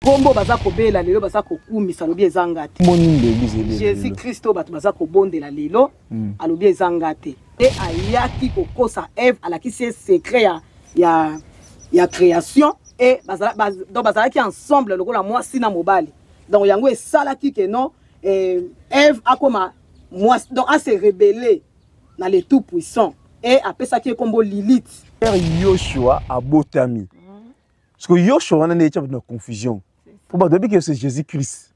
Kombo baza kobela lelo baza kokumisa alobi eza nga te. Boni nde eglise ebela. Jésus Christ oyo bato baza kobondela lelo mm. alobi eza nga te. Pe ayaki kokosa Eve alakisi ye secret ya ya ya création et bazala, baz, donc bazalaki ensemble lokola mwasi na mobali. Donc yango esalaki que non eh, Eve akoma mwasi donc a se rebeller na le tout puissant et apesaki ye kombo Lilith. Père Yoshua abotami. Parce que Yoshua wana n'est pas dans confusion. Pour moi, depuis que c'est Jésus-Christ.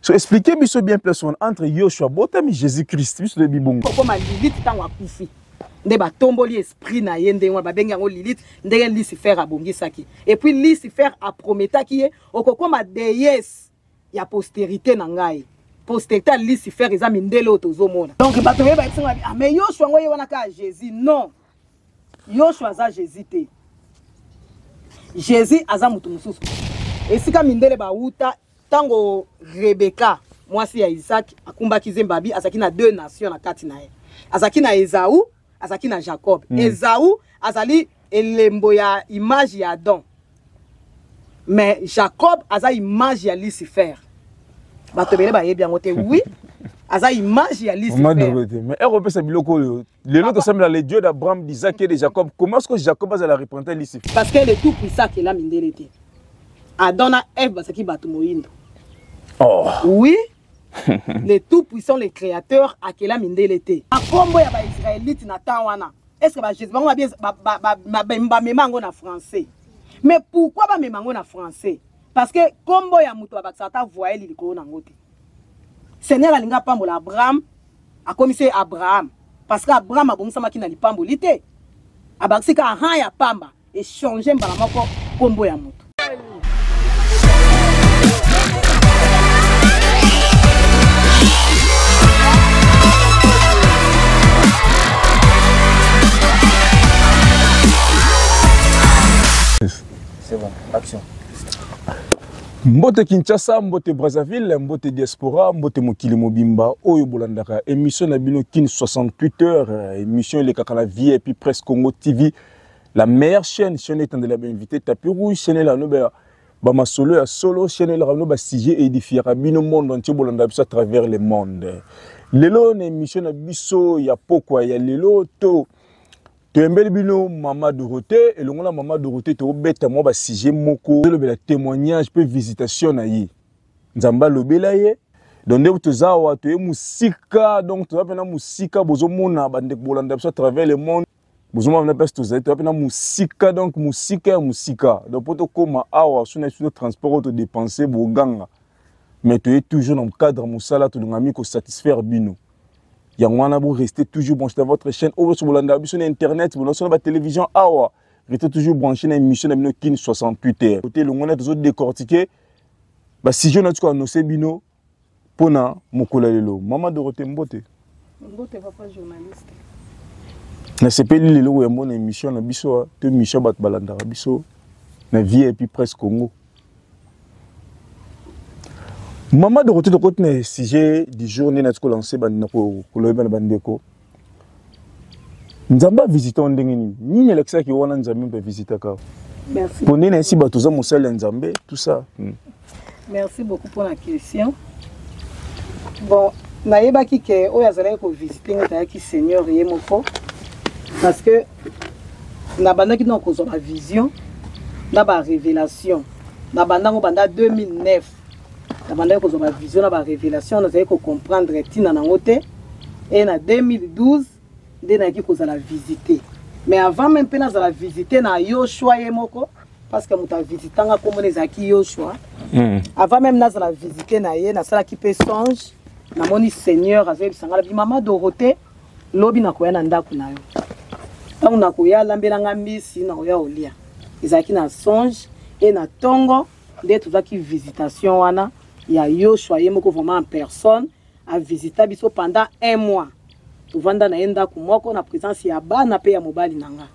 So expliquez biso bien plus entre Yoshua botami Jésus-Christ biso de bibongo. Pourquoi ma Lilith tango akufi? nde batomboli esprit na ye ndenge wana babengi yango lilith ndenge lucifer abongisaki epuis lucifer aprometaki ye okokoma deyese ya posterite na ngai posterite ya lucifer eza mindele oyo tozomona donc bato oyo bayebisanga ah, mais yoshua yango ye wana kaka jésus non yoshua aza jésus te jésus aza moto mosusu esika mindele bawuta ntango rebeka mwasi ya isaki akumbaki zembabi azalaki na deux nation na kati na ye azalaki na ezau azalaki na jacob mm. ezau azali elembo ya image ya adam mais jacob aza image ya lucifer bato ebele bayebi yango te oui aza image ya lismais ekopesa biloko oyo lelo tosambela le dieu d'abraham d'isaac et de jacob comment ce que jacob azala représente lucifer parce que le tout puissant akela mindele te adam na eve bazalaki bato moyindo oh. oui le tout puissant le créateur akela mindele te akombo ya baisraelite na temps wana estce bajesi bango bamema yango na français mais pourquoi bamema yango na français parce que kombo ya moto babakisaka ata voyele likolo na yango te seigneur alingi apambola abraham akomisi ye abraham parce que abraham abongisamaki na lipamboli te abakisi ka aha ya pamba Echange mbala moko kombo ya moto. C'est bon, action. mbote kinshasa mbote brazzaville mbote diaspora mbote mokili mobimba oyo bolandaka émission na bino kin 68 heures émission elekaka na vip presse congo tv la meilleure chaîne chaîne etandela ba invité tapis rouge chaîne la no ba ba masolo ya solo chaîne la no ba sujet édifier bino monde entier bolanda biso à travers le monde lelo na émission na biso ya pokwa ya lelo to toyembeli bino mama dorothée elongo na mama dorothée tokobeta mwa basujet moko tolobela témoignage mpe visitation na ye nzambe alobela ye donc nde toza awa toye mosika donc toza mpena mosika bozomona bandeko bolanda biso à travers le monde bozomona na place tozali toya mpe na mosika donc mosika ya mosika donc mpo tokóma awa so na biso to transport oyo todepense boganga mais toye toujours na cadre mosala tolingami kosatisfaire bino yango wana boreste toujours branche na votre chaîne oyo nyonso bolandaka biso na internet bonaso na batélévision awa rete toujours branche na émission na bino kin 68 heure kote elongo na tozo décortique basujet na tiko anonse bino mpo na mokolo ya lelo mama dorote mbote mbote papa journaliste nasepeli lelo koyambo na émission na biso to émission bato balandaka biso na vie epuis presse congo mama dorote tokoti na sujet du jour nde nati kolanse bandina koloyeba na bandeko nzambe avisite yo ndenge nini nini alakisaki wana nzambe mpe avisitaka yo mpo nde nayesi bato oza mosali ya nzambe tout ça hmm. merci beaucoup mpo na question bon nayebaki ke oyo azalaki kovisite ngai ezalaki seigneur ye moko parce que nabandaki nao kozwa bavision na barévélation na bandango banda 2009 nabandaki kozwa bavision na barevelation nazali kocomprendre ntina nango te e na 2012 nde nayaki kozala visite mais avant meme mpe nazala visite na yoshua ye moko parce que moto avisitanga komona ezalaki yoshua hmm. avant meme nazala visite na ye nasalaki mpe songe namoni seigneur azoyebisa ngai nabi mama dorote lobi nakoya na ndako na yo ntango nakoya alambela ngai mbisi nakoya olia ezalaki na songe e na ntongo nde tozwaki visitation wana ya yoshua ye moko vraiment en personne avisita biso pendant un mois tovanda na ye ndako moko na présence ya bana mpe ya mobali na nga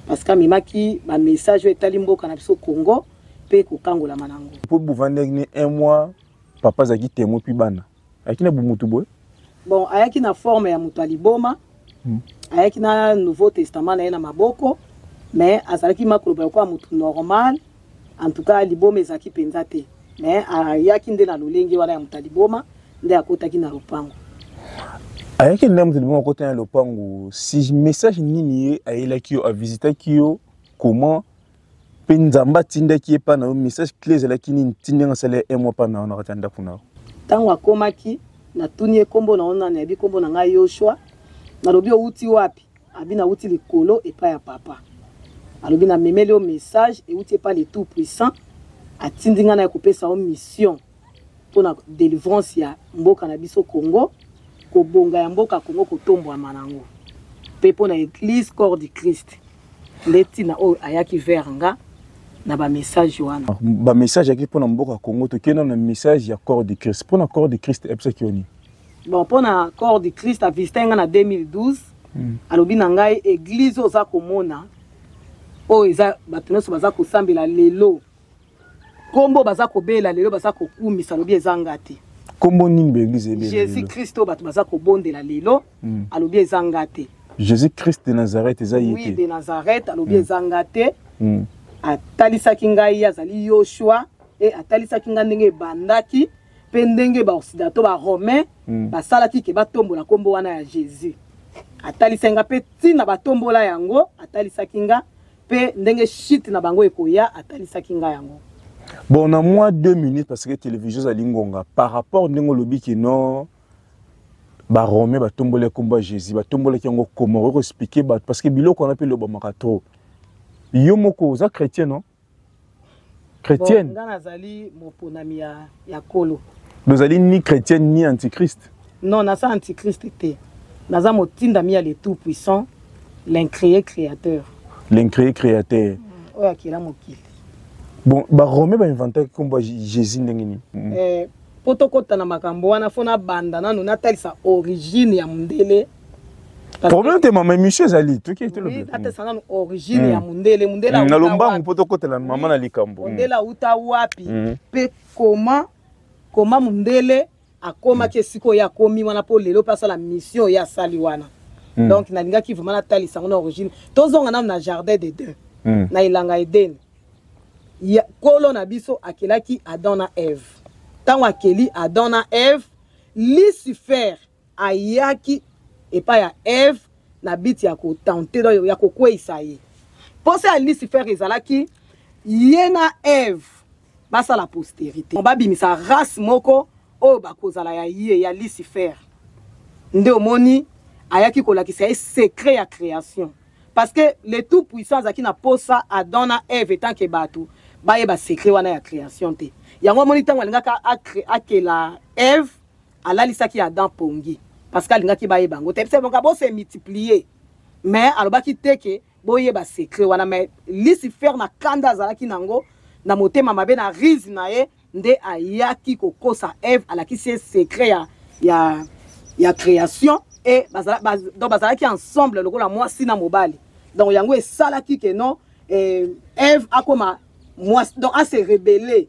parce que amemaki bamessage oyo etali mboka na biso congo mpe kokangolama na yango mpo bovandaki ne un mois papa azalaki temo mpi bana ayaki na bomutu boye bon ayaki na forme ya moto ya liboma hmm. ayaki na nouveau testament na ye na maboko mais azalaki makoloba lokola moto normal en tout cas liboma ezalaki mpenza te mais ayaki nde na lolenge wana ya moto ya liboma nde akotaki na lopango ayaki nde moto liboma akotaki na lopango si message nini ye ayelaki yo avisitaki yo comment mpe nzambe atindaki ye epai na yo message cle ezalaki nini ntindenge asala ye emwa epai na yo na kati ya ndako na yo ntango akomaki natuni ye nkombo na yo nani ayebi nkombo na ngai yoshua nalobi owuti wapi abi nawuti likolo epai ya papa alobi namemeli yo message ewuti epai le tout puissant atindi ngai na ye kopesa yo mission mpo na delivrance ya mboka na biso Congo, kobonga ya mboka Congo, kotombwama nango mpe mpo na Eglise Corps du Christ. Nde ntina oyo ayaki vers nga na ba message wana. Ah, ba message yaki mpo na mboka Congo, tokenda na message ya Corps du Christ. Mpo na Corps du Christ ebisaki yo nini? Bon, mpo na Corps du Christ avisita nga na 2012 hmm. alobi na ngai eglise oza komona oyo eza bato nyonso baza kosambela lelo kombo baza kobela lelo baza kokumisa lobi eza nga te kombo nini baeglise ebela jésus christ oyo bato baza kobondela lelo mm. alobi eza nga te jésus christ de nazareth eza ye te de nazareth alobi mm. eza nga te mm. atalisaki ngai azali yoshua e atalisaki ngai ndenge ebandaki mpe ndenge baoccidato baromain mm. basalaki ke batombola nkombo wana ya jésus atalisaki ngai mpe ntina batombola yango atalisaki ngai mpe ndenge shite na bango ekoya atalisaki ngai yango bon na mwa deux minutes parce que télévision ezali ngonga par rapport ndenge olobi kino barome batomboli nkombo ya jésus batombolaki yango koma okoki koexplike bato parce que biloko wana mpe elobamaka trop yo moko oza chrétien non chrétienne nga nazali moponami ya, ya kolo dozali ni chrétienne ni antichrist non naza antichrist te naza motindami ya le tout puissant l'incréé créateur l'incréé créateur mm, oyo akela mokili bon barome bainventaki nkombo ya jésus ndenge nini eh, mpo tokota na makambo wana fo nabanda nano natalisa origine ya mondele problème te mama émission ezali tokieatesangano origine hmm. ya mondele mondele hmm, na lombangu mpo tokotela mama na likambo hmm. mondele auta wapi mpe koma koma mondele akomaki esika oyo akomi wana mpo lelo mpe asala mission oyo asali wana donc nalingaki vraiment natalisa yango na origine tozonga nano na jardin de deux na elanga edene kolo na biso akelaki adam na eve ntango akeli adam na eve lucifer Ayaki epai ya Eve na biti ya kotente, donc ya kokweisa ye. Mposa ya Lucifer ezalaki ye na Eve basala posterite, babimisa race moko oyo bakozala ya ye, ya Lucifer. Nde omoni ayaki kolakisa ye secret ya creation. Parce que le tout puissant azalaki na posa Adam na Eve etant que bato bayeba secret wana ya creation te. Yango amoni ntango alingaka akela Eve, alalisaki adam pongi parce que alingaki bayeba yango te boka bose multiplier mais alobaki te ke boyeba secret wana mais lucifer na kanda azalaki nango na motema mabe na rise na ye nde ayaki kokosa eve alakisi ye secret ya, ya, ya création e bazala, baz, donc bazalaki ensemble lokola mwasi na mobali donc yango esalaki ke non eh, eve akoma mwasi donc ase rebelle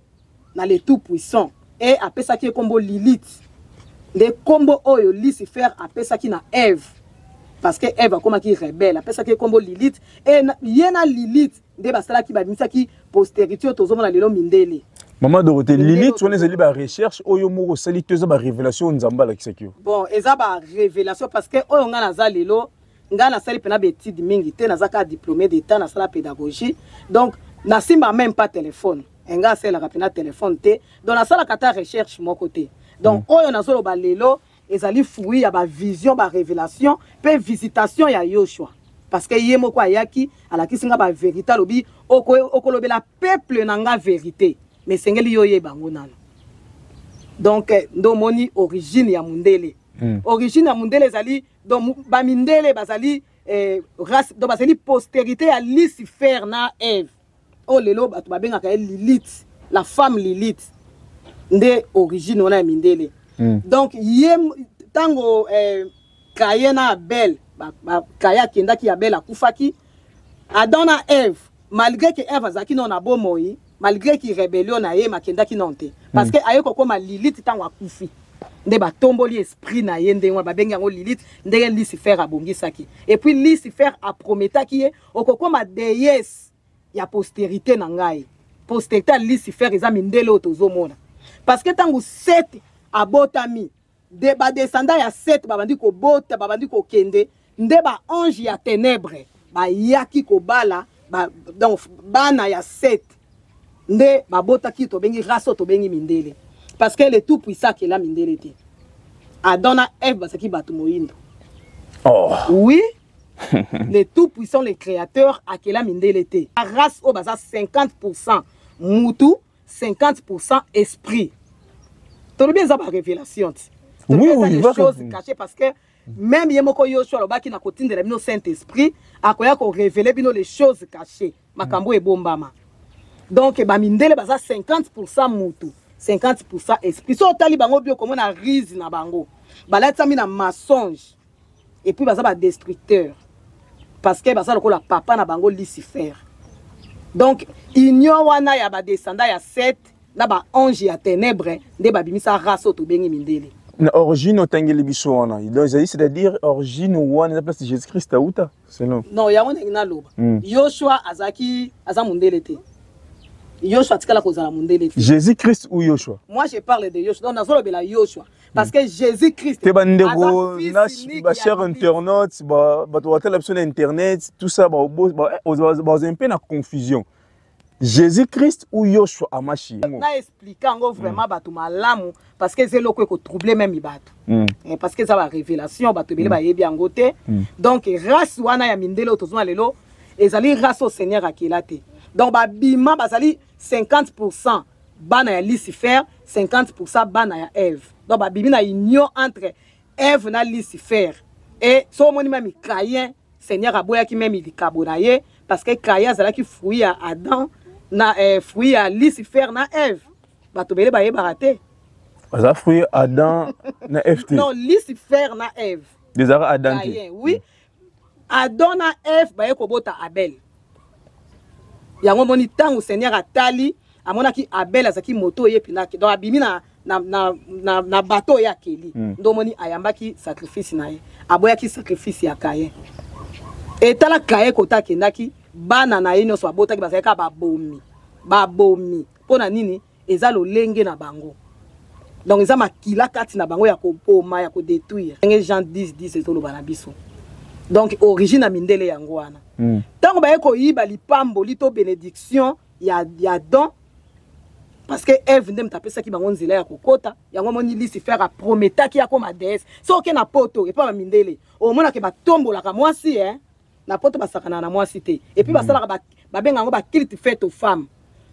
na le tout puissant e apesaki ye nkombo lilite nde nkombo oyo lucifer apesaki na eve parce que eve akomaki rebelle apesaki ye nkombo lilite e ye na lilite nde basalaki babimisaki posterité oyo tozomona lelo mindele mama dorote lilite wana ezali barecherche oyo moko osali to eza barévélation oyo nzambe alakisaki yo bon eza barévélation parce que oyo ngai naza lelo ngai nasali mpena baétude mingi te naza kaka diplômé d'état nasala pédagogie donc nasimba même pas téléphone enga asalelaka mpena telefone te donc nasalaka ata recherche moko te donc mm. oyo nazoloba lelo ezali fruit ya bavision barévélation mpe visitation ya yoshua parce que ye moko ayaki alakisi nga baverité alobi okolobela peuple na nga verité mais esengeli yo oyeba yango nano donc eh, nde omoni origine ya mundele mm. origine ya mundele ezali donc bamindele bazali eh, race donc bazali postérité ya lucifer na eve oyo oh, lelo bato babengaka ye lilite la femme lilite nde origine wana ya mindele mm. donc ye ntango eh, kaye na abel kaye akendaki abel akufaki adam na eve malgré ke eve azalaki nao na bomoi malgré ki rébellion na ye makendaki nao te parce mm. que aye kokoma lilite ntango akufi nde batomboli esprit na ye ndenge wana babengi yango lilite ndenge lucifer abongisaki epuis lucifer aprometaki ye okokoma deesse ya posterite na ngai posterite ya lucifer eza mindele oyo tozomona parce que ntango sete abotami de badescendant ya sete babandi kobota babandi kokende nde baange ya tenebre bayaki kobala ba, donc bana ya sete nde babotaki tobengi race oyo tobengi mindele parce que le tout puissant akela mindele te adam na eve bazalaki bato moyindo oh. oui le tout puissant le créateur akela mindele te race oyo baza 50 pourcent mutu 50 pourcent esprit tolobi eza barévélation ti oui, oui, des choses cachées parce que même ye moko yoshua alobaki na kotindela bino saint esprit akoya korevele bino les choses cachées makambo ebombama donc bamindele baza 50 pourcent mutu 50 pourcent esprit so otali bango bio okomona rise na bango balatisami na mensonge et puis baza ba destructeur parce que baza lokola papa na bango lucifer donc union wana ya badescendant ya 7 na baange ya ténèbre nde babimisa race oyo tobengi mindele na origine otangeli biso wana donc ezali c'est-à-dire origine wana eza place jésus christ auta selon non yango ndenge naloba mm. yoshua azalaki aza mondele te yoshua atikala kozala mondele te jésus christ ou yoshua moi je parle de yoshua donc nazolobela yoshua parce que jésus christ te bandeko bachère internaute bato batala biso na internet tout ça baza mpe na confusion jésus christ ou yoshua amashi na explike yango vraiment bato malamu parce que eza eloko ekotrouble meme bato hmm. eh, parce que eza barévélation bato ebele hmm. bayebi yango te hmm. donc race wana ya mindele oyo tozwa lelo ezali race oyo seigneur akela te donc babima bazali 50 pourcent bana ya lucifer 50 bana ya eve donc babimi na union entre eve na lucifer e so omoni meme cayen seigneur aboyaki meme likabo na ye parce que cayen azalaki fruit ya adam na eh, fruit ya lucifer na eve bato bele bayebaka te baza fruit adam na eve te non lucifer na eve ezalaka adam te oui adam na eve baye kobota abel yango omoni ntango seigneur atali amonaki abel azalaki moto oyo epinaki donc abimi na, na, na, na, na bato oyo akeli mm. ndo omoni ayambaki sacrifice na ye aboyaki sacrifice ya kaye etala kaye kota akendaki bana na ye nyonso babotaki bazalaki kaka babomi babomi mpo na nini eza lolenge na bango donc eza makila kati na bango ya koboma ya kodetruire ndenge jean 10 10 ezoloba na biso donc origine ya mindele yango wana hmm. ntango mm. baye koyiba lipamboli to benediction ya, ya don parce que eve nde moto apesaki bango nzela ya kokota yango omoni lucifer aprometaki akoma deesse soki oke na poto epa bamindele omonake batombolaka mwasi eh? na poto basakanaka na mwasi te epuis basalaka ba- babenga yango bakilte fete aux femmes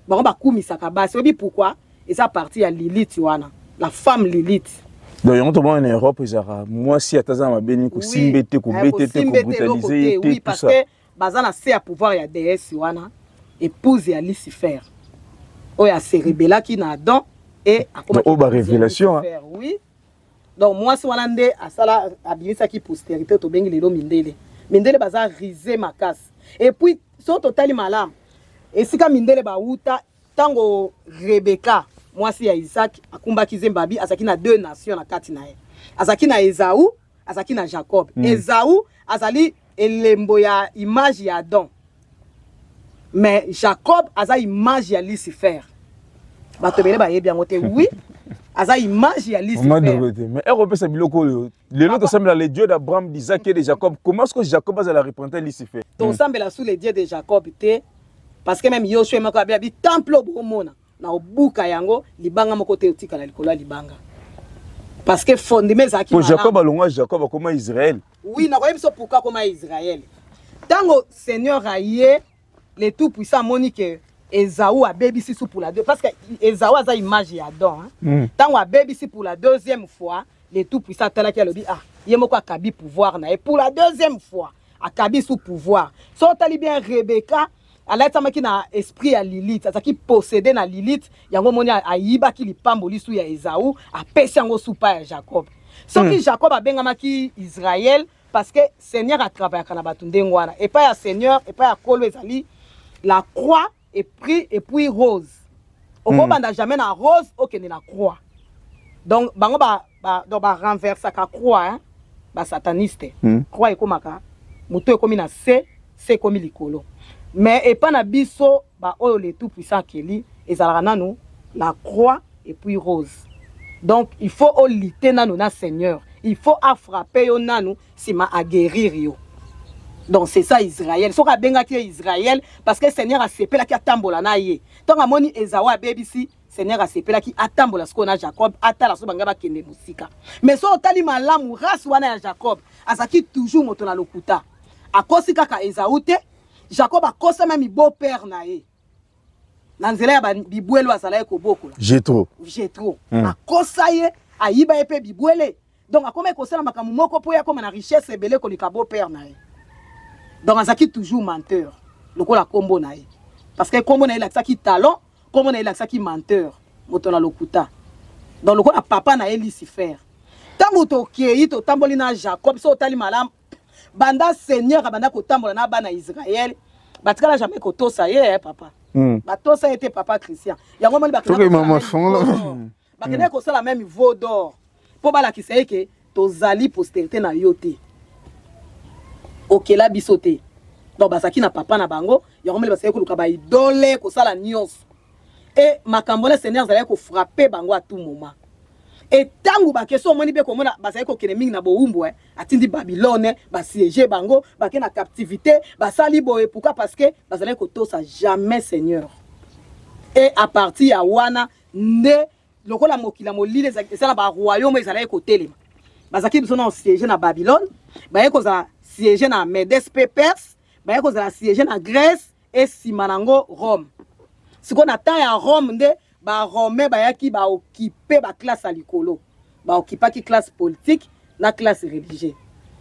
bango bakumisaka basi oyebi pourkui eza parti ya lilite wana la femme lilite donc yango tomona na europe ezalaka mwasi ata aza na mabe nini kosimba ye te kobeta ye te kobrutalise ye te tout ça parceke baza na se ya pouvoir ya déesse wana épouse ya lucifer oyo aserebelaki na adam e Donc, oyo ba révélation, hein. oui donc mwasi wana nde asala abimisaki posterité tobengi lelo mindele mindele baza rise makasi epuis soki totali malamu esika mindele bawuta ntango rebeka mwasi ya isaki akumbaki zembabi azalaki na deux nation na kati na ye azalaki na ezau azalaki na jacob mm. ezau azali elembo ya image ya Adam mais Jacob aza image ya Lucifer bato ebele bayebi yango te oui aza image ya lismate mais ekopesa biloko oyo lelo tosambela le dieu d'abraham d'isaac et de jacob comment ce que jacob azala représente lucifer tosambela sous le dieu de jacob te parce que même yoshua moko abi abi temple obomona na obuka yango libanga moko te otikala likolo ya libanga parce que fondement ezalaki po jacob alongwa jacob akoma israel oui nakoyebi biso pourquoi akoma israel ntango seigneur aye le tout puissant amoni ke ezau abebisi su pour la deux parce que ezau aza image ya don ntango hmm. abebisi pour la deuxième fois le tout puissant atalaki alobi ah ye moko akabi pouvoir na ye pour la deuxième fois akabi su pouvoir so otali bien rebeka alatisamaki na esprit ya lilite azalaki posede na lilite yango omoni ayibaki lipambo lisu ya ezau apesi yango supa ya jacob soki mm. jacob abengamaki israel parce que seigneur atravayaka na bato ndenge wana epai ya seigneur epai ya kolo ezali la croix epris epuis rose okobanda mm. jamais na rose okende na croix donc bango ba ba donc ba renversaka croix hein ba sataniste hmm. croix ekomaka moto ekomi na se se ekomi likolo mais epa na biso ba oyo le tout puissant akeli ezalaka nanu la croix et puis rose donc il faut olite nanu na seigneur il faut afrappe yo nanu nsima aguérir yo donc c'est ça israël soki abengaki ye israël parce que seigneur asepelaki atambola na ye ntango amoni ezawa abebisi seigneur asepelaki atambola sikoyo na jacob atala so bangai bakende mosika mais so otali malamu race wana ya jacob azalaki toujours moto na lokuta akosi kaka ezau te jacob akosama mibo père na ye na nzela ya bibwele oyo azalaki kobokola jetro jetro mm. akosa ye ayiba ye mpe bibwele donc akomaki kosala makambo moko mpo ye akoma na richesse ebele koleka beau père na ye donc azalaki toujours menteur lokola nkombo na ye parce que nkombo na ye elakisaki talent nkombo na ye elakisaki menteur moto na lokuta donc lokola papa na ye lucifer ntango tokei totamboli na jacob so otali malamu banda seigneur abanda kotambola na bana israele batikala jamais kotosa ye eh, papa mm. batosa ye te papa christian yango moni bakendaka bakendaki kosala meme veau d'or mpo balakisa ye ke tozali posterité na yo te okela biso te donc bazalaki na papa na bango yango mele basaki koluka baidole kosala nyonso e makambo wana seigneur azalaki kofrape bango a tout moment e ntango bakestion omoni mpe komona bazali kokende mingi na bowumbu eh, atindi babylone basiege bango bake na captivité basali boye pourkui parce que bazalaki kotosa jamais seigneur e à partir ya wana nde lokola mokili ya molili eza na baroyaume ezalaki kotelema bazalaki biso na siège na babylone baye kozala siège na medes mpe perse baye kozala siège na grèce esima nango rome sikoyo na temps ya rome nde baromain bayaki baokipe baklasse ya likolo ba occupaki classe politique na classe religieux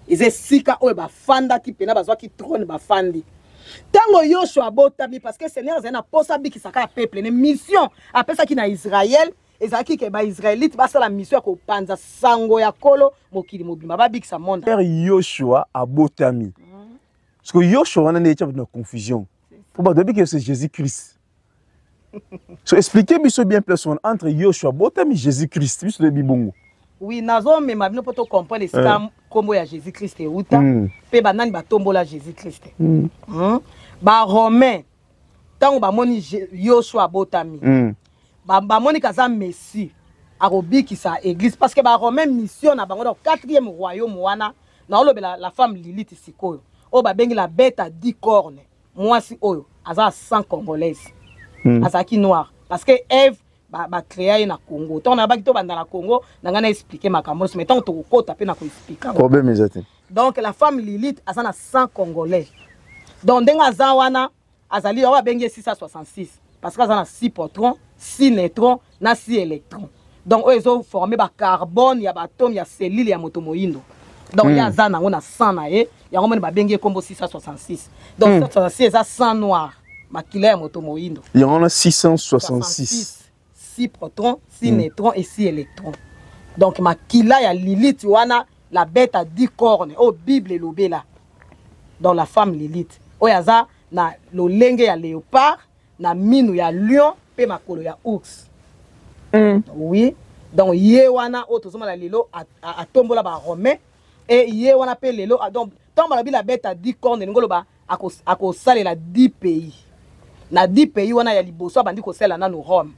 eza esika oyo bafandaki mpena bazwaki trone bafandi ntango yoshua abotami parce que seigneur azali na mposa abikisaka ya peuple ne mission apesaki na israele ezalaki ke baisraelite basala mission ya kopanza sango ya kolo mokili mobimba babikisa monde yoshua abotami mm. parce que yoshua wana nde etya bato na confusion mpo bato babiki yose jésus christ so expliquer biso bien place wana entre yoshua botami jésus christ biso toyebi bongo oui nazomema bino mpo tocomprendre esika nkombo eh. ya jésus christ euta mpe hmm. banani batombola jésus christ hmm. hmm? baromain ntango bamoni yoshua abotami bamoni kaza messie akobikisa église parce que baromain mission na bango donc quatrième royaume wana naolobela la femme lilite sikoyo oyo babengi la bête à dix corne mwasi oyo aza sans congolaise mm. azalaki noir parce que eve bacrea ye na congo ntango nayabaki tobanda na congo na ngai naexplike makambo nyonso mai ntango tokokota mpe na koexplika problème eza te donc la femme lilite aza na sang congolais donc ndenge aza wana azali oyo abengi ye 666 parce que aza na 6 potron 6 netron na si électron donc oyo ezo forme ba carbone ya baatome ya cellule ya moto moyindo donc mm. ye aza nango na sang na ye yango moni babengi ye nkombo 666 donc mm. 666 eza sang noir makila ya moto moyindo yango na 666 6 proton 6 mm. neutron et 6 électron donc makila ya lilite wana la bête à 10 cornes oyo oh, bible elobela dans la femme lilite oyo aza na lolenge ya léopard na minu ya lion mpe makolo ya ours mm. oui donc ye wana oyo tozomona lelo atombola baromain e ye wana mpe lelo donc ntango balobi la bete adi corne elingi oloba akosalela 10 pays na 10 pays wana ya liboso abandi kosalela nanu rome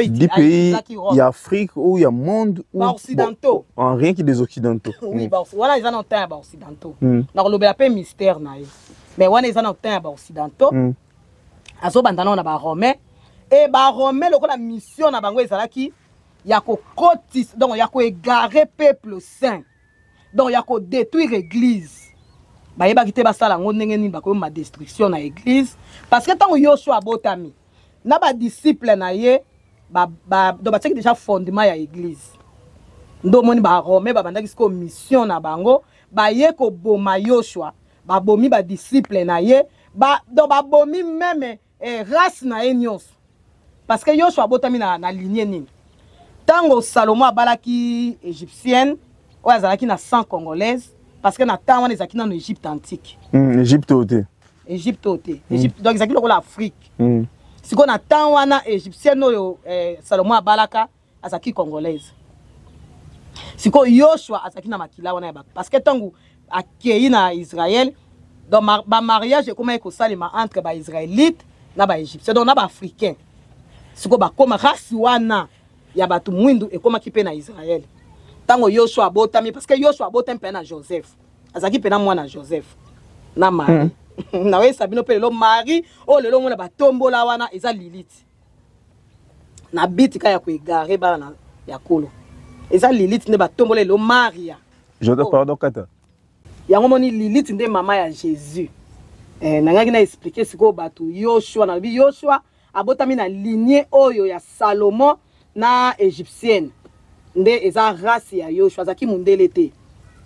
des pays ya afrique ou ya monde baoccidentaux bon, rien que des occidentaux oui mm. wana eza na ntan ya baoccidentaux mm. nakolobela mpe mystère na ye mais wana eza na ntan ya baoccidentaux mm. azobanda nao na baromain e baromain lokola mission na bango ezalaki ya kokotisa donc ya koegare peuple saint donc ya kodétruire église bayebaki te basala yango ndenge nini bakoyoma destruction na église parce que ntango yosua abotami na badisciple na ye donc batiaki déjà fondement ya église nde omoni barome babandaki sikoyo mission na bango baye koboma yosua babomi ba disciple na ye ba donc babomi meme eh, race na ye nyonso parce que yoshua abotami na, na linie nini ntango salomo abalaki égyptienne oyo azalaki na sang congolaise parce que na temps wana ezalaki nano égypte antique mm, égypte oyo te égypte oyo te mm. égypte mm. donc ezalaki lokola afrique mm. sikoyo na temps wana égyptienne oyo eh, salomo abalaka azalaki congolaise sikoyo yoshua azalaki na makila wana ya bato parce que ntango akei na israel donc bamariage ekomaki kosalema entre baisraélite na baégyptien donc na baafricain sikoyo bakoma race wana ya bato mwindu ekomaki mpe na israel ntango yoshua abotami parce que yoshua abotami mpe na joseph azalaki mpe na mwana joseph na marie hmm. naoyesa bino mpe lelo marie oyo lelo omona batombola wana eza lilite na biti ka ya koegare bana na ya kolo eza lilite nde batombola elo maria jodo oh. pardon kata yango moni lilite nde mama ya jésus eh, nangaki na explike sikoyo bato yoshua nalobi yoshua abotami na linie oyo ya salomon na égyptienne nde eza race ya yoshua azalaki mondele te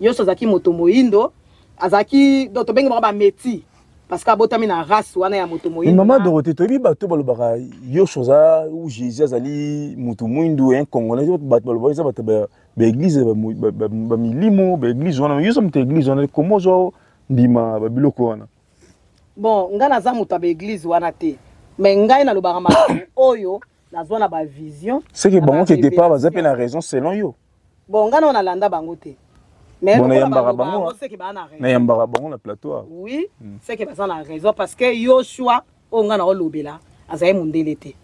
yoshua azalaki moto moyindo azalaki donc tobengi bango bameti parce que abotami na race wana ya moto moyindo mama dorote toyebi bato balobaka yosho oza ou jésus azali moto mwindu un congolais bato balobaka eza bato baeglise bamilimo baeglise wana yoso moto ya eglise wana koma ozwa ndima babiloko wana bon ngai naza moto ya baeglise wana te mais ngai nalobaka makambo oyo nazwa na bavision seke bango ke départ baza mpe na raison selon yo Bon, nga na landa bango te. Mais bon, nayambaka bango. Nayambaka bango na plateau. Ah. Oui, hmm. c'est que baza na raison parce que Yoshua oyo nga na olobela azali mondele te.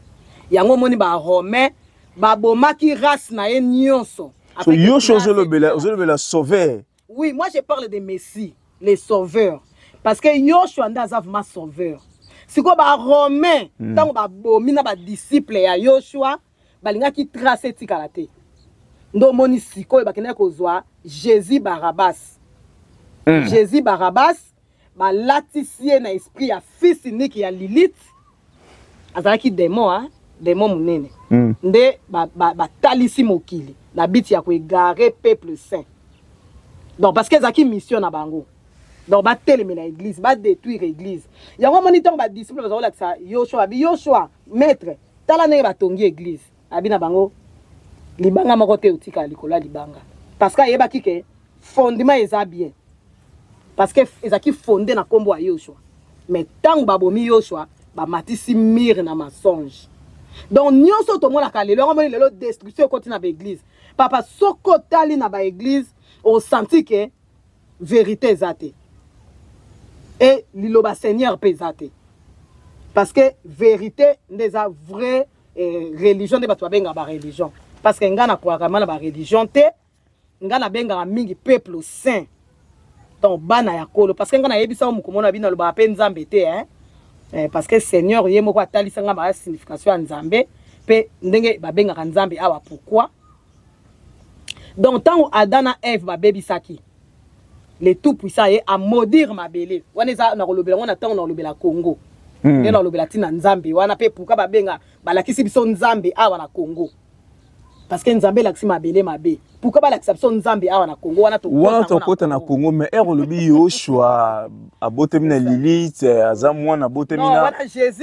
Yango omoni ba Romain babomaki race na ye nyonso. So Yoshua ozolobela ozolobela sauveur. Oui, moi je parle de Messie, les sauveurs parce que Yoshua nda aza vraiment sauveur. sikoyo barome ntango hmm. babomi na badisiple ya yoshua balingaki trace etikala te nde omoni sikoyo bakendaki kozwa jésus barabas mm. jésus barabas balatisi ye na esprit ya fils unique ya lilith azalaki demo a demo monene mm. nde batalisi ba, ba mokili na biti ya koegare peuple saint donc parce que ezalaki mission na bango donc batelemela église badétruire église yango omoni ntango badisciple baza kolakisa yoshua abi yoshua maître tala ndenge batongi eglise abi na bango libanga moko te otikala likolo ya libanga parce que ayebaki ke fondement eza bien parce que ezalaki fonde na nkombo ya yoshua mais ntango babomi yoshua bamatisi mire na mensonge donc nyonso tomonaka lelo yango moni lelo destruction ekoti na baeglise papa soki otali na baeglise osanti ke verite eza te e liloba seigneur mpe eza te parce que verite nde eza vrai eh, religion nde bato babengaka bareligion parce que ngai nakwaka ma na bareligion te ngai nabengaka mingi peuple saint donc bana ya kolo parce que ngai nayebisa yo mokomona na bino alobaka mpe nzambe te hein? eh, parce que seigneur ye moko atalisa ngai baya signification ya nzambe mpe ndenge babengaka nzambe awa pourquoi donc ntango adam na eve babebisaki le tout puissant ye amodire mabele wana eza nakolobela yango na ntango nakolobela congo hmm. nde nakolobela ntina nzambe wana mpe puka babenga balakisi biso nzambe awa na congo parce que nzambe elakisi mabele mabe pourquoi balakisa biso nzambe awa na congo wana wana tokota na congo mais ere olobi yoshua abotami na lilite aza mwana abotami na jésus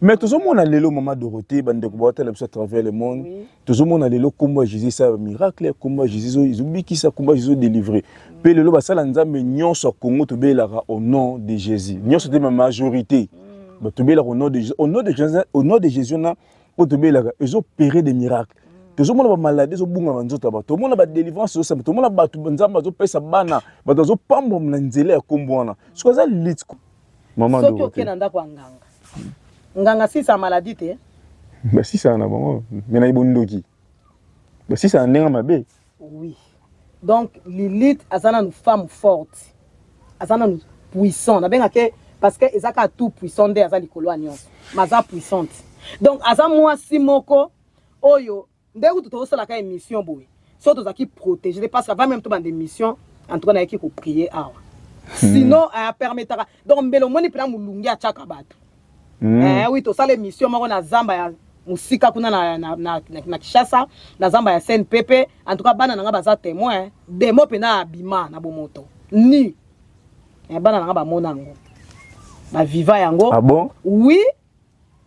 mais tozomona lelo mama dorothée bandeko bawatala biso à travers le monde oui. tozomona lelo nkombo ya jésus esala bamiracle nkombo ya jésus ezobikisa nkombo ya jésus odelivre mpe mm. lelo basala nzambe nyonso ya kongo tobelelaka au nom de jésus nyonso te ma majorité mm. bato tobelelaka au nom de jésus au nom de jésus, au nom de jésus wana oyo tobelelaka ezopere des miracles mm. tozomona bamaladi ezobunga na nzoto ya bato tomona badelivrance ezosamba tomona bato nzambe azopesa bana bato azopambwa na nzela ya nkombo wana soki aza litiko mama soki okenda ndako ya nganga nganga sisa maladie te basisana na bango me na ebondoki basisana ndenge mabe oui donc lilith aza nanu femme forte aza nanu puissant nabengake parce que eza kaka tout puissant nde aza likolo ya nyonso ma aza puissante donc aza mwasi moko oyo Nde kutu tozosalaka emission boye so tozalaki protege de parce avant même to bande emission en tout cas nayaki koprie awa hmm. sinon apermetaka eh, donc mbele omoni mpena molungi atyaka bato hmm. eh wi tosala emission moko na zamba ya mosika kuna na, na, na, na, na kishasa na zamba ya scène pepe en tout cas bana na ngai baza témoin demo mpena abima na bomoto ni eh, bana na ngai bamona yango baviva yango ah bon? oui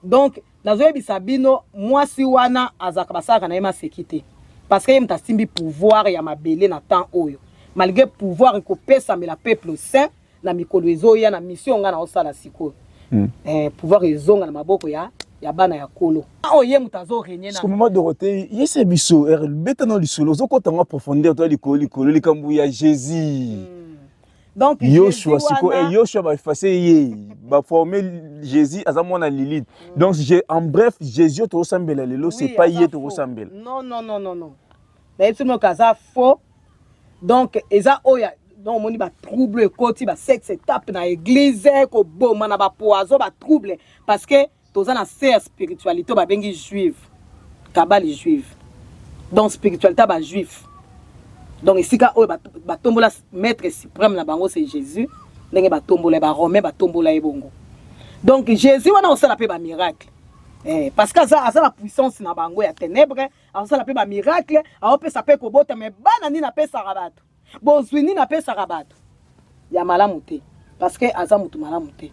donc nazoyebisa bino mwasi wana azalaka basalaka na ye maseki te parce que ye moto asimbi pouvoir ya mabele na temps oyo malgré pouvoir ekopesamela peuple sain na mikolo ezoya na mission ngai naosala sikoyo mm. eh, pouvoir ezonga na maboko ya ya bana ya kolo ah, oyo oh, ye moto azorenye na mama dorote yese biso eh, beta na lisolo ozokota ngo profondeur to likolo likolo likambo ya jésus mm. donc yoshua siko eh, yoshua baefase ye baforme jésus aza mwana lilite mm. donc je, en bref jésus tokosambela lelo oui, c'est pas ye tokosambela non non non non non nayebi soki moyoka aza faux donc eza oyo donc omoni batrouble ekoti basexe etape na église koboma na bapoison batrouble parce que toza na se ya spiritualité babengi juive kabali juive donc spiritualité ya bajuife donc esika oyo batombola ba maître suprême na bango c'est jésus ndenge batombola ye baromain batombola ye bongo donc jésus wana osala mpe bamiracle Eh, parce que aza, aza na puissance na bango ya ténèbre azosala mpe bamiracle aopesa mpe kobota me bana nini apesaka bato bozwi nini apesaka bato ya malamu te parce que aza motu malamu te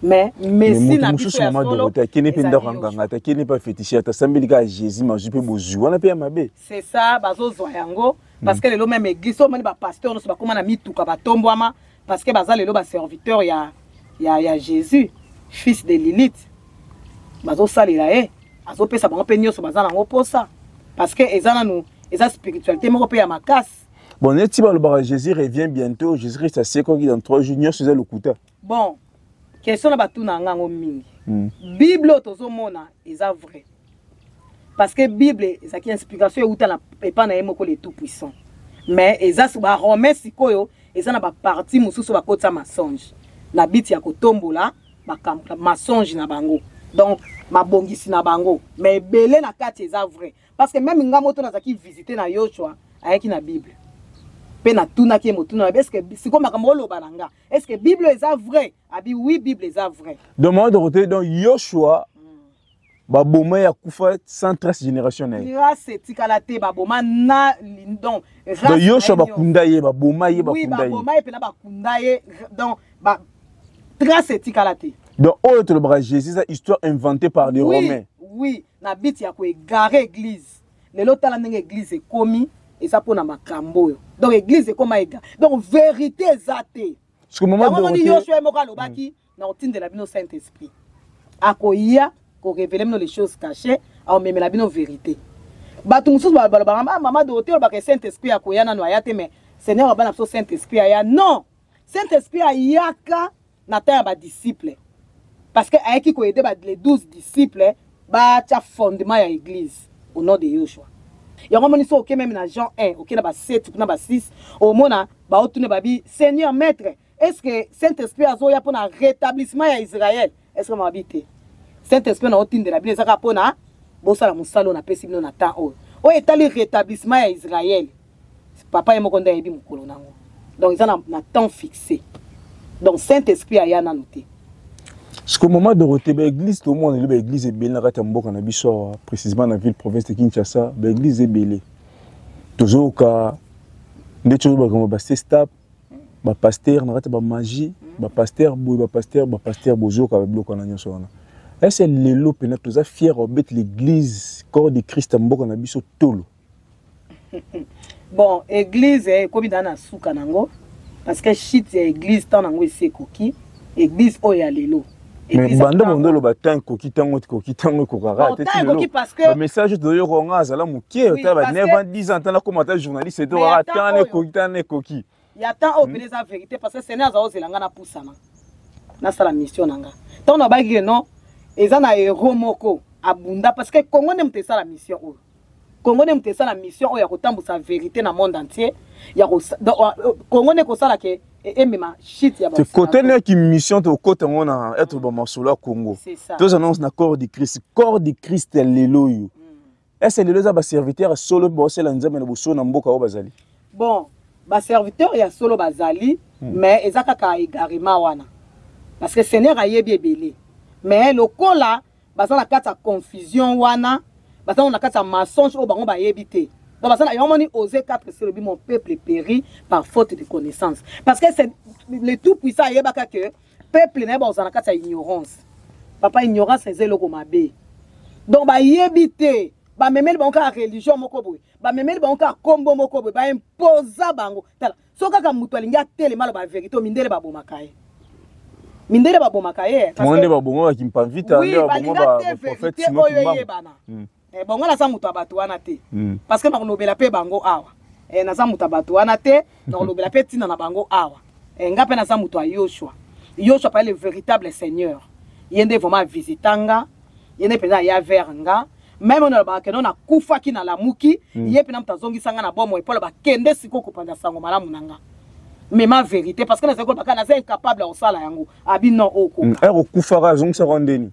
mais messi na biso ya solo akende mpe ndako anganga te akende mpe afetishe ata asambeli kaka jésus mazwi mpe bozwi wana mpe ya mabe c'est ça bazozwa yango parce que lelo meme église omoni bapasteur nyonso bakóma na mituka batombwama parce que baza lelo baserviteur ya, ya, ya jésus fils de lilite bazosalela ye azopesa bango mpe nyonso baza nango mposa parce que eza nanu eza spiritualité moko mpe ya makasi bon neti balobaka jésus revient bientôt jésus christ asekwaki dans trois jours nyonso eza lokuta bon question na batuna yanga yango mingi hmm. bible oyo tozomona eza vrai parce que bible ezalaki inspiration euta na epai na ye moko le tout puissant mais eza baromain sikoyo eza na baparti mosusu bakotisa masonge na biti ya kotombola mensonge na bango donc mabongisi na bango mais ebele na kati eza vrai parce que meme nga moto nazalaki visite na yoshua ayaki na bible mpe natunaki ye motuna nabe eske sikoyo makambo oloba na nga eske bible eza vrai abi oui bible eza vrai donc mama dorote donc yoshua baboma ya kufa sans trace génération na ye race etikala te baboma na donc donc yoshua bakunda ye baboma ye oui, bakunda ye mpena bakunda ye donc ba, trace etikala te donc oyo tolobaka jésus eza histoire inventée par les oui, romains oui na but ya ko egare eglise lelo tala ndenge eglise ekomi eza mpo na makambo oyo donc eglise ekoma ega donc verité eza te omoni yosua ye moko alobaki mm. na kotindela bino saint esprit akoya korevele bino les choses cachées aomemela bino verité bato mosusu balobaka ah, mama dorote olobaka saint esprit akoya nano aya te mais seigneur abana biso saint esprit aya non Saint Esprit ayaka na temps ya ba disciples parce que ayaki ko aider ba les 12 disciples ba tia fondement ya église au nom de Yoshua. yango omoni so oke meme na jean 1 oke na ba 7 kuna ba 6 omona baotuna babi seigneur maître est ce que saint esprit azoya mpo na rétablissement ya israel est ce que mabi te saint esprit na otindela bino ezaka mpo na bosala mosala oyo napesi bino na temps oyo oyo etali rétablissement ya israel papa ye moko nde ayebi mokolo nango donc eza na, na temps fixé donc saint esprit aya nanu te siko mama dorote baeglise tomona lelo baeglise ebele na kati ya mboka na biso awa précisement na ville province de kinshasa baeglise ebele tozoyoka ndeti oyo bakoma basestap ba pasteur na kati ba magie ba pasteur boye ba pasteur ba pasteur bozoka ba biloko na nyonso wana ese lelo mpena toza fier obeti l'église corps de christ mboka na biso tolo bon église ekomi eh, daa na suka nango parce que shit ya église ntango nango esi ekoki Église oyo ya lelo. mais banda mondo oloba temps ekoki ntango ekoki ntango ekokaka te bamessage toyoka nga azala moke otala ba 9 ans 10 ans ntana koma ata journaliste etokaka temps ekoki temps ekoki ya temps oyo mpena eza verité parce que sene aza ozela nga napusana nasala mission na nga ntango nabaki ke non eza na hero moko abunda parce que congo nde moto esala mission oyo Congo ne mutesa na mission oyo ya kotambusa verite na monde entier ya ko Congo ne kosala ke emema shit ya te kote ne ki mission to kote ngo na être ba masolo ya Congo tous annonce na corps du Christ corps du Christ ya lelo yo mm. est-ce lelo za ba serviteur solo ba osela nzambe na boso na mboka oyo bazali bon ba serviteur ya solo bazali mm. mais eza kaka egarement wana parce que seigneur ayebi ebele mais lokola baza na kati ya confusion wana baza na kati ya mensonge oyo bango bayebi te donc baza na yango moni ose 4 selobi mon peuple péri par faute de connaissance parce que c'est le tout puissant ayebaka que peuple na ye bakozala na kati ya ignorance papa ignorance eza eloko mabe donc bayebi te bamemeli bango kaka religion moko boye bamemeli bango kaka nkombo moko boye baimposa bango tala so kaka moto alingi atelema aloba verité oyo mindele babomaka ye mindele babomaka ye bango nde babomaka kimpamvita nde baboma baprofete oyo eyebana hmm. eh, bongo naza moto ya bato wana te hmm. parce que nakolobela mpe bango awa eh, naza moto ya bato wana te nakolobela mpe ntina na bango awa eh, nga mpe naza moto ya yoshua yoshua pale le véritable seigneur ye nde vraiment avisita nga ye nde mpenza aya vers nga meme oyo nalobaka keno nakufaki nalamuki mm. ye mpena moto azongisa nga na bomoi mpo aloba kende sikoyo kopanza sango malamu na nga mema verité parce que nazali kolobaka naza incapable ya kosala yango abi non okoka mm, eh, okufaka azongisaka ndeni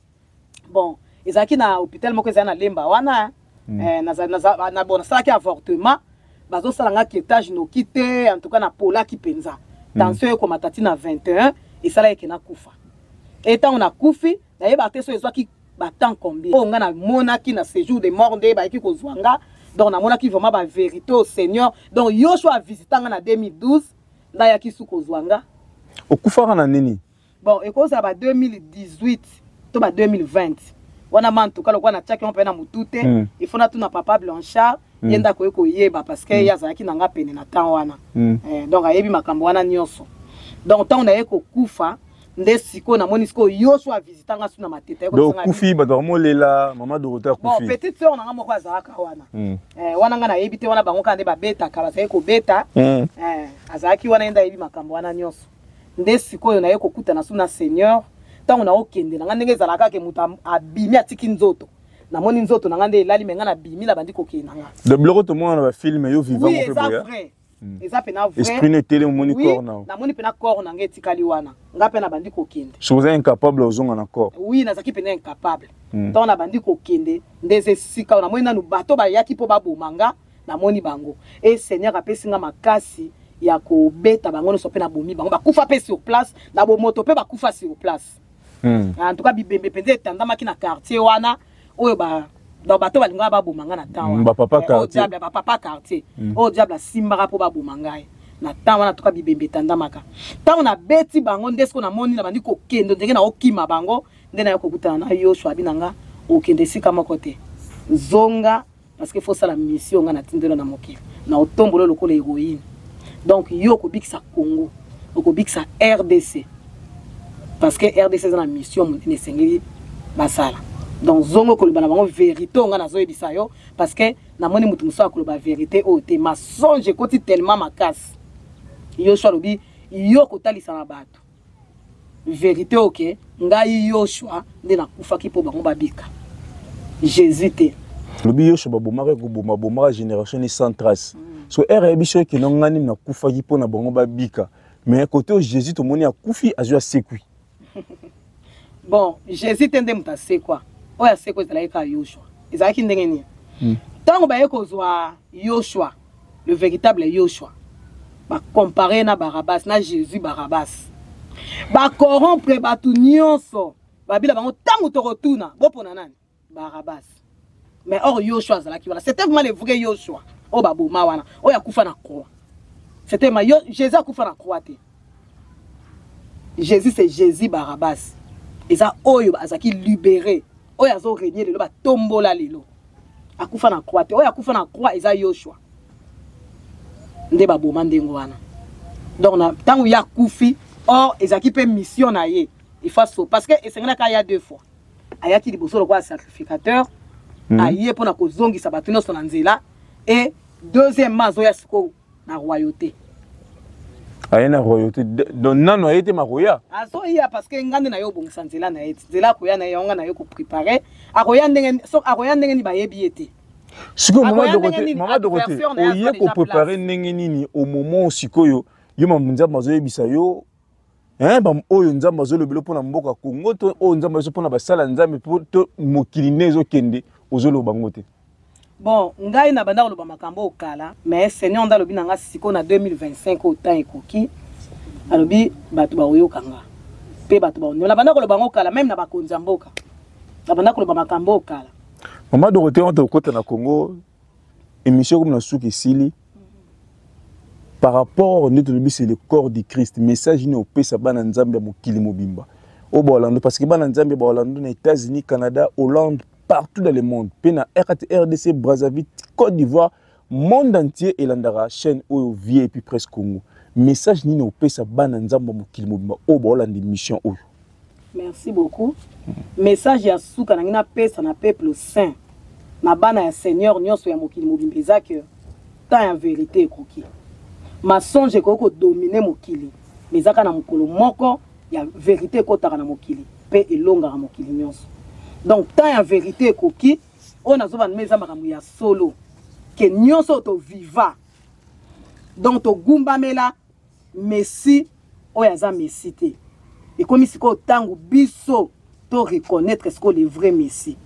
bon ezalaki na hôpital moko ezali na lemba wana mm. eh, nasalaki avortement bazosala nga ketage noki te en tout cas napolaki mpenza tension ekomata ti na 21 esala eke nakufa e ntango nakufi nayebaka te so ezwaki batemp combien oyo ngai namonaki na séjour de mort nde bayaki kozwa nga donc namonaki vraiment bavérité au seigneur donc yosho avisita nga na 2012 ngai ayaki su kozwa nga okufaka na nini bon ekozala ba 2018 to ba 2020 wana ma ntuka lokola natiaki yango mpe na motu te mm. ifo natuna papa blanchard mm. ye nde akoki koyeba parce que mm. ye azalaki na nga pene na temps wana mm. eh, donc ayebi makambo wana nyonso donc ntango naye kokufa nde sikoyo namoni sikoyo yo so avisita nga su na mateta okufi bato bamolela mama dorote akufi petite sœur na nga moko azalaka wana hmm. eh, wana nga nayebi te wana bango kaka nde babetaka bazalaki kobeta hmm. eh, azalaki wana ye nde ayebi makambo wana nyonso nde sikoyo naye kokutana su na seigneur ntango nakokende na nga ndenge ezalaka kake moto abimi atiki nzoto namoni nzoto na nga nde elali me nga nabimi nabandi kokende na nga de bloko tomona na bafilme yo vivant oui, eza vrai Hmm. eza pena vraisesprit netele omoni corps na namoni pena corps na nga etikali wana nga mpe nabandi kokende soki oza incapable ozonga na corps oui nazalaki pena incapable hmm. ntango nabandi kokende nde eza esika oyo namoni nanu bato bayaki mpo baboma nga namoni bango e seigneur apesi nga makasi ya kobeta bango nyonso mpe nabomi bango bakufa mpe sur place na bomoto mpe bakufa sur place hmm. en tout cas bibembe mpenza etandamaki na quartier wana oyo ba donc bato balingaka baboma ngai na temps wana bapapa quartier bapapa quartier oyo diable asimbaka mpo baboma ngai na ntango wana toka bibembe etandamaka ntango nabeti bango nde siko namoni na bandi kokende ndenge naokima bango nde nayo kokutana na yo shwabi na nga okende esika moko te zonga parce que faut ça la mission nga na tindelo na mokili na otombolo lokola héroïne donc yo okobikisa Congo okobikisa RDC parce que RDC eza na mission monene esengeli basala donc zongo koloba na bango vérité oyo ngai nazoyebisa yo parce que namoni moto mosusu akoloba vérité oyo te masonge ekoti tellement makasi yosua alobi yo kotalisa na bato verite oyo ke ngai yoshua nde nakufaki mpo bango babika jésus te lobi yoshua babomaka ekoboma bomaka génération ni sans trace mm. so ere ayebi soki kino ngai nini nakufaki mpo na bango babika mais kote oyo jésus tomoni akufi azwi asekwi bon jésus te nde moto asekwa oyo asekwa ezalaki kaka yoshua ezalaki ndenge nini hmm. ntango baye kozwa yoshua le véritable Yoshua ba comparer na Barabbas na Jésus Barabbas ba corrompre bato nyonso babila bango ntango tokotuna bopona nani Barabbas mais or Yoshua azalaki wana c'était vraiment le vrai Yoshua oyo baboma wana oyo akufa na croix c'était ma yo Jésus akufa na croix te Jésus c'est Jésus Barabbas. Eza oyo azaki libéré. Oyo azo régner lelo ba tombola lelo. Akufa na croix te. Oyo akufa na croix eza Yoshua. Nde ba boma ndengo wana. Donc na tango ya kufi or ezaki pe mission na ye. Il faut so parce que esengelaka ya deux fois. Ayaki liboso lokola sacrificateur. Mm -hmm. Aye pona kozongisa bato nyonso na nzela et deuxièmement azoya sikoyo na royauté aye na royauté donc nano aye te makoya azoya parce que nga nde na ye obongisa nzela na ye ti nzela akoya na ye yango nga na ye koprépare akoya ndenge akoya ndenge nini bayebi ye te sikoyo mama dokote mama dokote oye koprépare ndenge nini au moment sikoyo yo mamu nzambe azoyebisa yo eh, ba oyo nzambe azolobela mpo na mboka congo to oyo nzambe azo mpo na basala nzambe mpo to mokili nde ezokende ozoloba ngo te bon ngai na banda koloba makambo oyo kala mais seigneur nde alobi na ngai sikoyo na 2025 oyo temps ekoki alobi bato bakoyoka nga mpe bato baoniola na banda koloba yango kala meme na bakonzi ya mboka na banda koloba makambo oyo kala mama dorote wana tokokota na congo emission comme na suki esili par rapport nde tolobi c'est le corps du christ message nini opesa bana nzambe ya mokili mobimba oyo baolando parce que bana nzambe baolando na états-unis canada hollande partout dans le monde mpe na rdc brazzaville côte d'ivoire monde entier elandaka chaîne oyo vie epuis presse congo message nini opesa bana nzambe ya mokili mobimba oyo baolanda émission oyo merci beaucoup message ya suka nangi napesa na peuple saint na bana ya seigneur nyonso ya mokili mobimba eza ke temps ya verité ekoki masonge ekoki kodomine mokili ma ezaka na mokolo moko ya verité ekotaka na mokili mpe elongaka mokili nyonso donc temps ya verité ekoki oyo nazobanda eza makambo ya solo ke nyonso toviva donc togumbamela Messi oyo aza Messi te. Ekomi sikoyo ntango biso to reconnaître sikoyo le vrai Messi.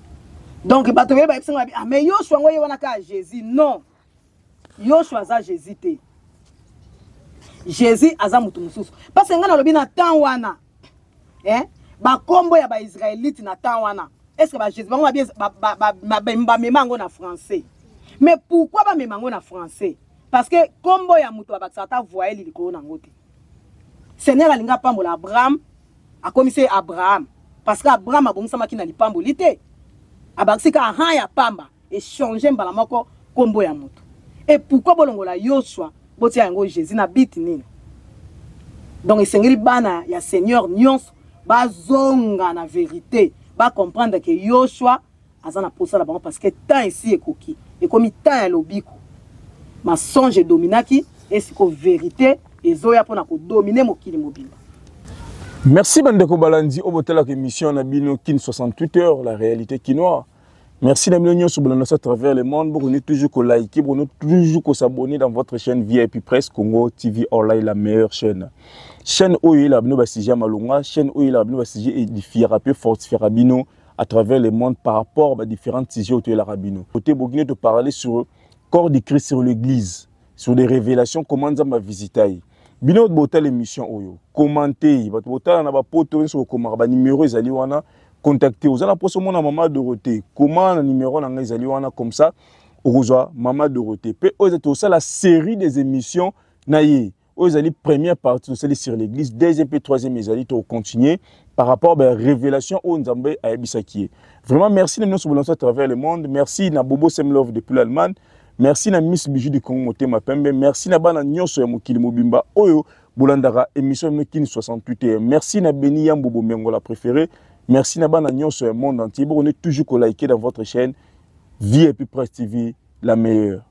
Donc bato baye bayebisi ngai ah mais Yoshua yango ye wana kaka Jésus non. Yoshua aza Jésus te. Jésus aza moto mosusu. Parce que ngai nalobi na temps wana eh bakombo ya baisraelite na temps wana est ce que bajésus bango bamema yango na français mais pourquoi bamema yango na français parce que kombo ya moto abakisaka ata voyele likolo nango te seigneur alingi apambola abraham akomisi ye abraham parce que abraham abongisamaki na lipamboli te abakisi ka aha ya pamba echange mbala moko kombo ya moto e pourkui bolongola yosua botia yango jésus na biti nini donc esengeli bana ya seigneur nyonso bazonga na verite bacomprendre ke yosua aza na posa na bango parce que temps esi ekoki ekomi temps ya lobiko masonge edominaki esiko verite ezoya mpona kodomine mokili mobimba merci bandeko balandi oyo botalaka émission na bino kin 68 heures la réalité kinois merci na bino nyonso bolandasi à travers le monde bokondi toujours kolike bokondi toujours kosabonne dans votre chaîne vip presse congo tv online la meilleure chaîne chaîne oyo eyelaka bino basujet ya malonga chaîne oyo eyelaka bino basujet edifiaka mpe fortifiaka bino à travers le monde par rapport à différents sujets autour de la rabino. Côté Bogino, tu parlais sur le corps du Christ sur l'église, sur les révélations, comment ça m'a visité. Bino bota l'émission oyo, oh commentez, bato bota na ba poto sur comment ba numéro ezali wana, contactez. Vous allez poser mon maman Dorothée, comment le numéro na ezali wana comme ça, okozwa maman Dorothée. Pe oyo ezali la série des émissions na ye. oyo ezali première partie tosali sur l'église deuxième mpe troisième ezali tokocontinue par rapport ba révélation oyo nzambe ayebisaki ye vraiment merci na bino nyonso bolanso à travers le monde merci na bobo semlove depuis l'allemagne merci na miss bijou du congo motema pembe merci na bana nyonso ya mokili mobimba oyo bolandaka émission mino kini 68 heures merci na beni yambo bomengo la préféré merci na bana nyonso ya monde entier bokonde toujours kolike dans votre chaîne vie et puis presse tv la meilleure